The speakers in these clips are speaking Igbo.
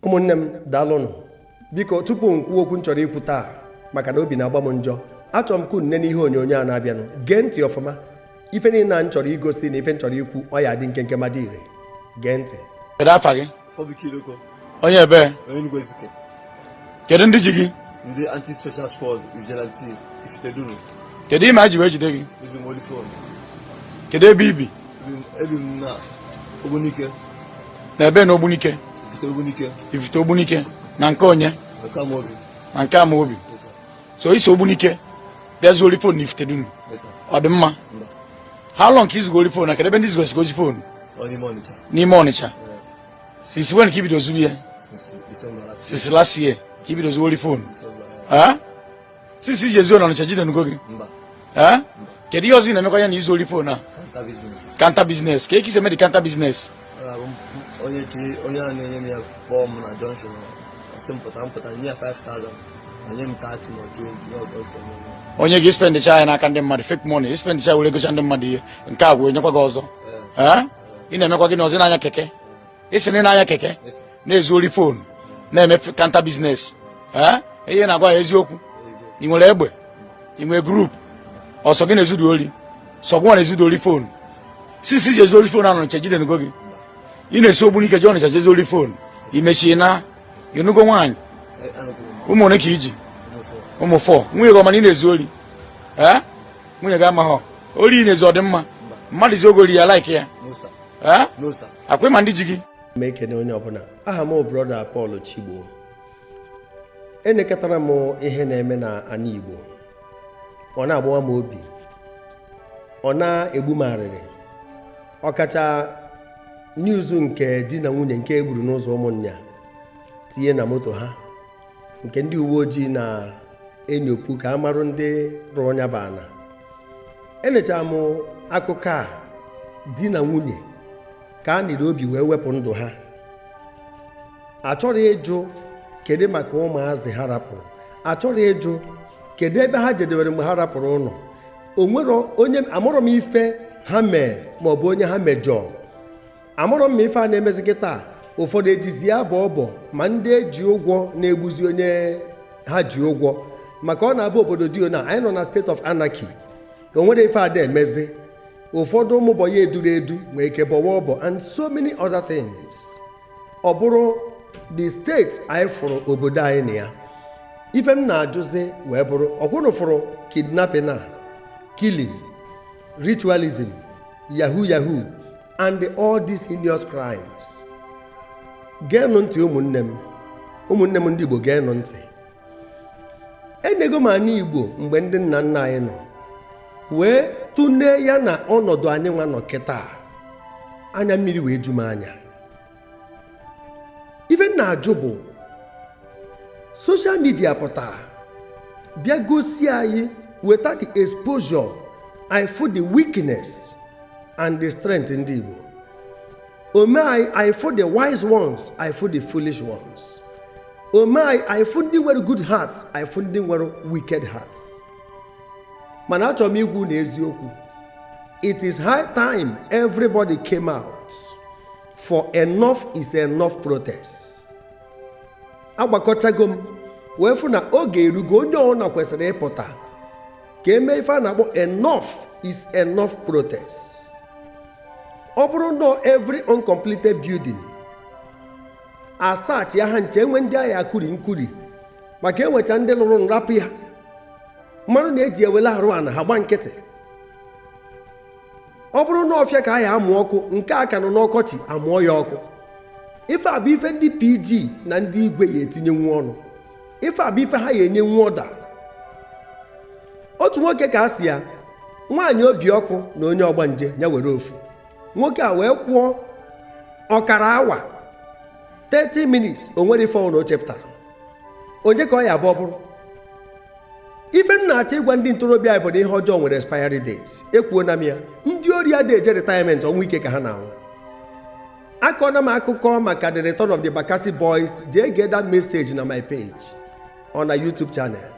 ụmụnne m daalụnụ biko tupu m kwuo okwu m chọrọ ikwu taa maka na obi na-agba m njọ achọrọ m ka unu nene ihe onyonyo a na-abịanụ gee ntị ọfụma ife niile a m chọrọ igosi na ife m chọrọ ikwu ọ ya-adị nkenke ma dị ire gee ntị Kedu afa gị? Chibuike Idoko, Onye ebee? onye Enugu Ezike, Kedu ndị ji gị? ndị anti-special squad vigilante Ifitedunu. kedu ihe mere e ji wee jide gị kedu ebe i bi ebi m na ogbunike ifite ogbunike na nke onye na nke amaobi so i si ogbunike bịa zuo ori fon na ifitedunu ọ dị mma how long ka i zugo ori fon a kedu ebe ndị i zugasịgo ori fon n'ime ọnịcha since when ka i bido zube ya since last year ka i bido zu ori fon since i ji ezu ori n'ọnịcha e jidenugo gị kedu ihe ọzọ ị na-emekwa ya na izu ori fon a counter business kee ka e si eme the counter business onye chi onye a na-enye m ya kpọọ m na junction ọ sị m pụta m pụta nye ya 5000 o nye m 30 ma 20 n'ọgụ ọsọ o nye gị spendịcha ya n'aka ndị mmadụ fake money spendịcha were gocha ndị mmadụ ihe nke a gwụ e nyekwa gị ọzọ ị na-emekwa gịnị ọzọ na-anya keke ị sị na ị na-anya keke na-ezu ori fon na-eme counter business eh? ihe na-agwa ya eziokwu ị nwere egbe ị nwere group ọ sọ gị na-ezudu ori sọ gị nwa na-ezudu ori fon since i ji ezu ori fon n'ọnịcha e jidenugo gị ị na-esi ogbunike je ọnịcha je zu ori fon i mechaa naa ịnụgo nwaanyị ụmụ one ka i ji ụmụ four nwunye gị ọ ma na ị na-ezu ori eh? nwunye gị amaghọ ori ị na-ezu ọ dị mma mmadụ zuo gị ori ị ya-like ya Eh? akwa ị ma ndị ji gị m ekene onye ọbụla aha m brother Paul Chigbo enekatara m ihe na-eme na ana Igbo ọ na-agbawa m obi ọ na-egbu m arịrị ọkacha news nke di na nwunye nke e gburu n'ụzọ Ụmụnya tinye na moto ha nke ndị uwe ojii na-enyopụ ka a marụ ndị rụrụ nya bụ ana elechara m akụkọ a di na nwunye ka a niri obi wee wepụ ndụ ha achọrọ ịjụ kedu maka ụmụazị ha rapụrụ achọrọ ịjụ kedu ebe ha jedewere mgbe ha rapụrụ ụlọ o nwere onye amarọ m ife ha mee maọbụ onye ha mejọọ amarọ m ma ife a na-emezi gịtaa ụfọdụ ejizi ya abọ ọbọ ma ndị e ji ụgwọ na-egbuzi onye ha ji ụgwọ maka ọ na-abụ obodo dị o na anyị nọ na state of anarchy o nwerọ ife a da emezi ụfọdụ ụmụ bọị a e duru edu nwee ike bọwa ọbọ and so many other things ọ bụrụ the state anyị fụrụ obodo anyị na ya ife m na-ajụzi wee bụrụ ọkwa unu fụrụ kidnapping a killing ritualism yahoo yahoo and all these heinous crimes geenụ ntị ụmụnne m ụmụnne m ndị Igbo geenụ ntị enego m anị Igbo mgbe ndị nna nna anyị nọ wee tụnee ya na ọnọdụ anyị nwa nọ kịta anya mmiri wee ju m anya ife m na-ajụ bụ social media pụta bịa gosi anyị weta the exposure anyị fụ the weakness and the strength ndị igbo o mee anyị anyị fụ the wise ones anyị fụ the foolish ones o mee anyị anyị fụ ndị nwere good hearts anyị fụ ndị nwere wicked hearts mana achọrọ m ịgwa unu eziokwu it is high time everybody came out for enough is enough protest agbakọchago m wee fụ na oge erugo onye ọbụla kwesịrị ịpụta ka e mee ife a na-akpọ enough is enough protest ọ bụrụ na every uncompleted building a searchịa ha ncha enwe ndị a ya-akuri nkuri maka enwecha ndị lụrụ nrapụ ya mmadụ na-eji ewele arụ ana ha gba nkịtị ọ bụrụ na ọfịa ka a ya-amụ ọkụ nke a ka nọ n'ọkọchị amụọ ya ọkụ ife a bụ ife ndị PG na ndị igwe ya-etinyenwu ọnụ ife a bụ ife ha ya-enyenwu order otu nwoke ka a si ya nwaanyị obi ọkụ na onye ọgbanje ya were ofu nwoke a wee kwụọ ọkara awa 30 minutes o nwere ife ọwụna o chepụtara onye ka ọ ya-abụ ọ bụrụ ife m na-achọ ịgwa ndị ntorobịa anyị bụ na ihe ọjọọ nwere expiry date ekwuona m na ndị ori adị eje retirement ọnwụ ike ka ha na-anwụ akọna m akụkọ maka the return of the Bakassi boys jee gee that message na my page or na YouTube channel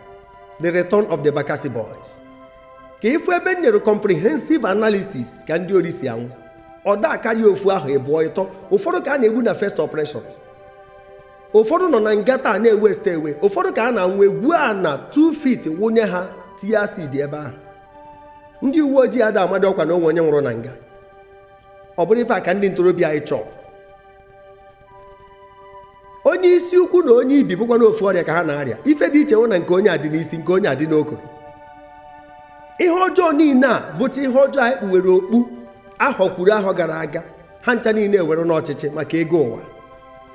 the return of the Bakassi boys ka ị fụ ebe m nyere comprehensive analysis ka ndị ori si anwụ ọ da akarịa ofu ahọ ịbụọ ịtọ ụfọdụ ka a na-egbu na first operation ụfọdụ nọ na nga taa na-ewaste away ụfọdụ ka ha na-anwụ egwuo ana 2 feet wụnye ha tinye acid ebe ahụ ndị uwe ojii ada ama dị ọkwa na o nwe onye nwụrụ na nga ọ bụrụ ife a ka ndị ntorobịa anyị chọ onye isi ukwu na onye ibi bụkwa na ofu ọrịa ka ha na-arịa ife dị iche wụ na nke onye a dị n'isi nke onye a dị n'okoro ihe ọjọọ niile a bụcha ihe ọjọọ anyị kpuwere okpu ahọ kwuru ahọ gara aga ha ncha niile ewere n'ọchịchị maka ego ụwa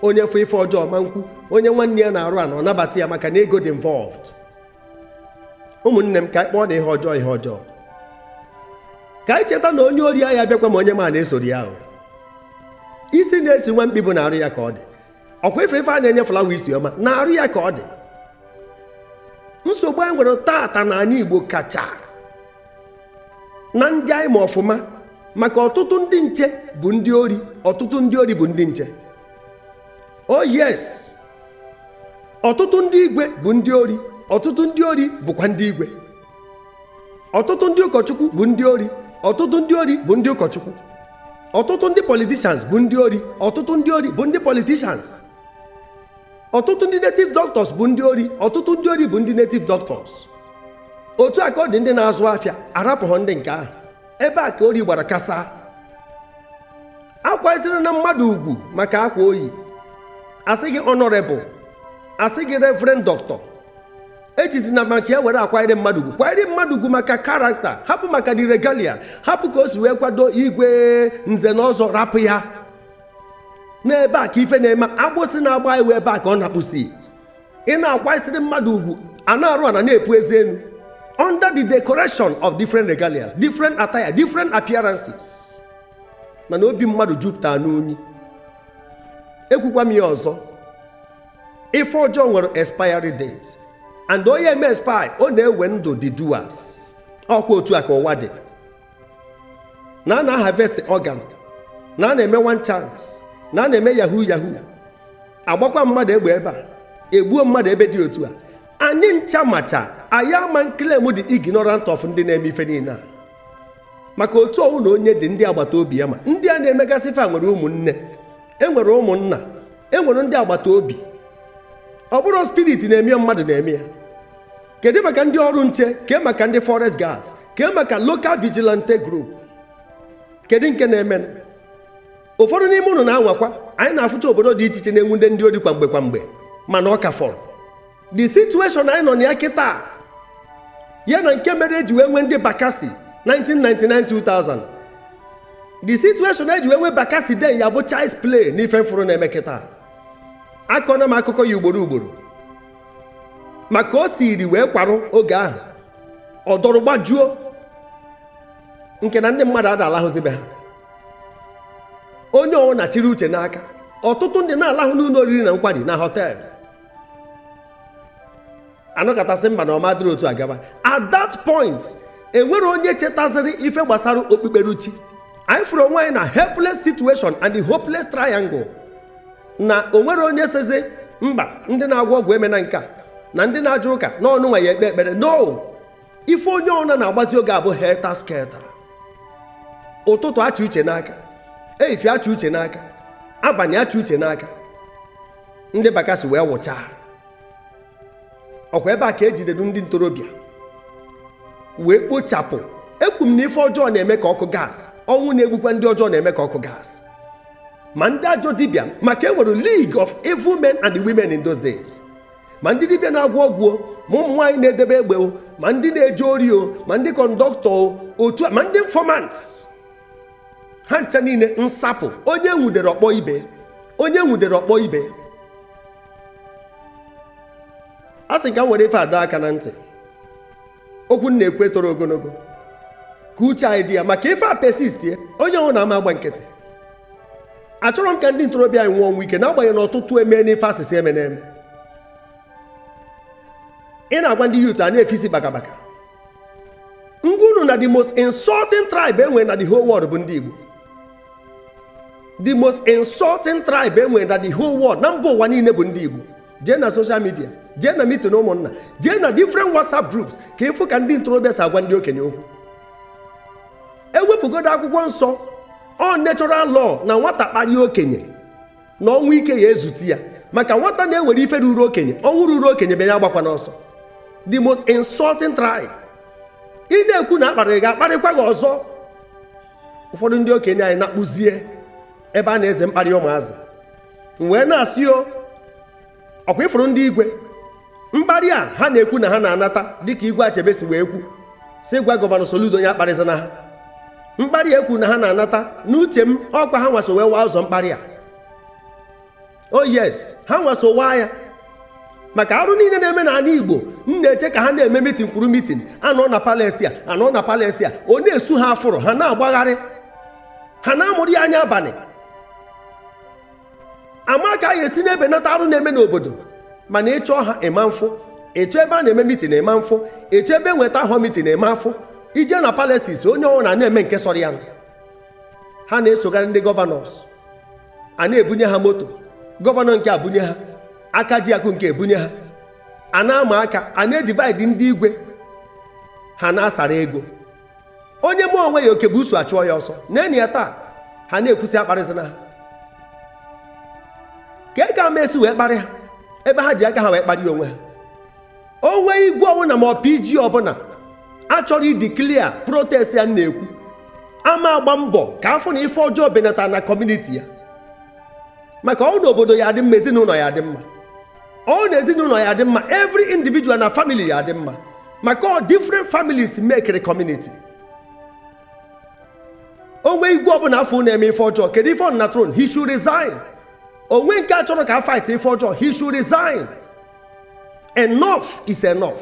onye fụ ife ọjọọ ma nkwu onye nwanne ya na-arụ ana ọ nabata ya maka na ego dị involved ụmụnne m ka anyị kpọọna ihe ọjọọ ihe ọjọọ ka anyị cheta na onye ori ahịa bịakwa ma onye ma na-esoro ya ahụ isi na-esi nwa mkpi bụ na arụ ya ka ọ dị ọkwa ife ife a na-enye flower isi ọma na arụ ya ka ọ dị nsogbu anyị nwere taata na anị igbo kacha na ndị anyị ma ọfụma maka ọtụtụ ndị nche bụ ndị ori ọtụtụ ndị ori bụ ndị nche oh yes ọtụtụ ndị igwe bụ ndị ori ọtụtụ ndị ori bụkwa ndị igwe ọtụtụ ndị ụkọchukwu bụ ndị ori ọtụtụ ndị ori bụ ndị ụkọchukwu ọtụtụ ndị politicians bụ ndị ori ọtụtụ ndị ori bụ ndị politicians ọtụtụ ndị native doctors bụ ndị ori ọtụtụ ndị ori bụ ndị native doctors otu a ka ọ dị ndị na-azụ afịa arapụghọ ndị nke ahụ ebe a ka ori gbara kasaa akwanyezirina mmadụ ugwu maka akwa o yi a sị gị honorable a sị gị reverend doctor ejizina maka ya were akwanyere mmadụ ugwu kwanyere mmadụ ugwu maka character hapụ maka the regalia hapụ ka o si wee kwado igwe nze na ọzọ rapụ ya n'ebe a ka ife na-eme agbụsị na-agba iwe ebe a ka ọ na-akpụsi ị na-akwanyesịrị mmadụ ugwu a na-arụ ana na-epu eze enu under the decoration of different regalias different attire different appearances mana obi mmadụ jupụtara n'unyi ekwukwa m ya ọzọ ife ọjọọ nwere expiry date and ọ na-eme expire ọ na-ewe ndụ the doers ọkwa otu a ka ụwa dị na a na-harvest organ na a na-eme one chance na a na-eme yahoo yahoo agbakwa mmadụ egbe ebe a egbuo mmadụ ebe dị otu a anyị ncha macha anyị ama claim dị ignorant of ndị na-eme ife niile a maka otu ọwụna onye dị ndị agbata obi ya ma ndị a na-emegasị ife a nwere ụmụnne enwere ụmụnna enwere ndị agbata obi ọ bụrọ spirit na-eme ya mmadụ na-eme ya kedu maka ndị ọrụ nche kee maka ndị forest guards kee maka local vigilante group kedu nke na-emenụ ụfọdụ n'ime ụnụ na-anwakwa anyị na-afụcha obodo dị iche iche na-enwude ndị ori kwa mgbe kwa mgbe mana ọ ka fọrọ the situation anyị nọ na ya kịta ya na nke mere e ji wee nwee ndị bakasi 1999 2000 the situation e ji wee nwee bakasi then ya bụ child's play n'ife m fụrụ na-eme kịta akọna m akụkọ ya ugboro ugboro ma ka o siri wee kwarụ oge ahụ ọ dọrọ gbajuo nke na ndị mmadụ ada alahụzi be ha onye ọwụna chiri uche n'aka ọtụtụ ndị na-alahụ n'ụlọ oriri na nkwari na hotel a nọkata sị mba na ọ ma dịrị otu a gaba at that point enwerọ onye chetaziri ife gbasara okpukperechi anyị fụrụ onwe anyị na helpless situation and the hopeless triangle na o nwerọ onye sịzi mba ndị na-agwọ ọgwụ emena nke a na ndị na-aje ụka n'ọnụ nwa ya ekpe ekpere no ife onye ọwụna na-agbazi oge a bụ helter skelter ụtụtụ a chị uche n'aka efifie a chị uche n'aka abalị a chị uche n'aka ndị bakasi wee wụchaa ọkwa ebe a ka ejidere ndị ntorobịa wee kpochapụ ekwu m na ife ọjọọ na-eme ka ọkụ gas ọnwụ na-egbukwa ndị ọjọọ na-eme ka ọkụ gas ma ndị ajọ dibịa maka e nwere league of evil men and women in those days ma ndị dibịa na-agwọ ọgwụ ma ụmụ nwaanyị na-edebe egbe ma ndị na-eje ori o ma ndị kọndọktọ otu ma ndị informant ha ncha niile nsapụ onye nwudere ọ kpọọ ibe onye nwudere ọ kpọọ ibe asị m ka m were ife a dọọ aka na ntị okwu m na-ekwu etoro ogonogo ka uche anyị dị ya maka ife a persistie onye ọbụna ama agba nkịtị achọrọ m ka ndị ntorobịa anyị nwụọ ọnwụ ike n'agbanyeghị na ọtụtụ eme n'ife a sị sị emena eme ị na-agwa ndị youth ha na-efe isi bakabaka m gwa unu na the most insulting tribe enwere na the whole world bụ ndị Igbo the most insulting tribe enwere na the whole world na mba ụwa niile bụ ndị Igbo jee na social media jee na meeting ụmụnna jee na different WhatsApp groups ka ịfụ ka ndị ntorobịa si agwa ndị okenye okwu ewepụgodo akwụkwọ nsọ ọ natural law na nwata kparịa okenye na ọnwụ ike ya-ezute ya maka nwata na-ewere ife ruru okenye ọnwụ ruru okenye bịa ya agbakwana ọsọ the most insulting tribe ị na-ekwu na akparịrị gị akparịkwa gị ọzọ ụfọdụ ndị okenye anyị na-akpụzie ebe a na-eze mkparị ụmụazị wee na-asị o ọkwa ịfụrụ ndị igwe mkparị a ha na-ekwu na ha na-anata dịka igwe achebe si wee kwu sị gwa gọvanọ Soludo onye akparịzina ha mkparị a ekwu na ha na-anata n'uche m ọkwa ha nwa so wee waa ụzọ mkparị a o oh yes ha nwa so waa ya maka arụ niile na-eme n'ana Igbo m na-eche ka ha na-eme mitin kwuru mitin a nọọ na palace a a nọọ na palace a ọ na-esu ha afụrụ ha na-agbagharị ha na-amụrụ ya anya abanị ama ka a ga-esi na-ebenata arụ na-eme n'obodo mana ị chọọ ha ịma mfụ ị chọọ ebe a na-eme mitin a ịma mfụ ị chọọ ebe enwe town hall mitin a ịma afụ ị jee na palaces onye ọbụna na-eme nke sọrọ ya ha na-esogharị ndị gọvanọs a na-ebunye ha moto gọvanọ nke a ebunye ha aka ji akụ nke a ebunye ha a na-ama aka a na-edivide ndị igwe ha na-asara ego onye mee onwe ya oke busu achụọ ya ọsọ neenụ ya taa ha na-ekwu sị akparịzina ha kee ka a ma esi wee kparị ha ebe ha ji aka ha wee kparịa onwe ha o nwe igwe ọbụna ma ọ PG ọbụna achọrọ ideclare protest a m na-ekwu ama agba mbọ ka a fụ na ife ọjọọ benata na community ya maka ọ na obodo ya adị mma ezinụnọ ya adị mma ọ na ezinụnọ ya dị mma every individual na family ya dị mma maka ọ different families make the community o nwee igwe ọbụna a fụ na-eme ife ọjọọ kedu ife ọ nọ na throne he should resign o nwee nke achọrọ ka a fight ife ọjọọ he should resign enough is enough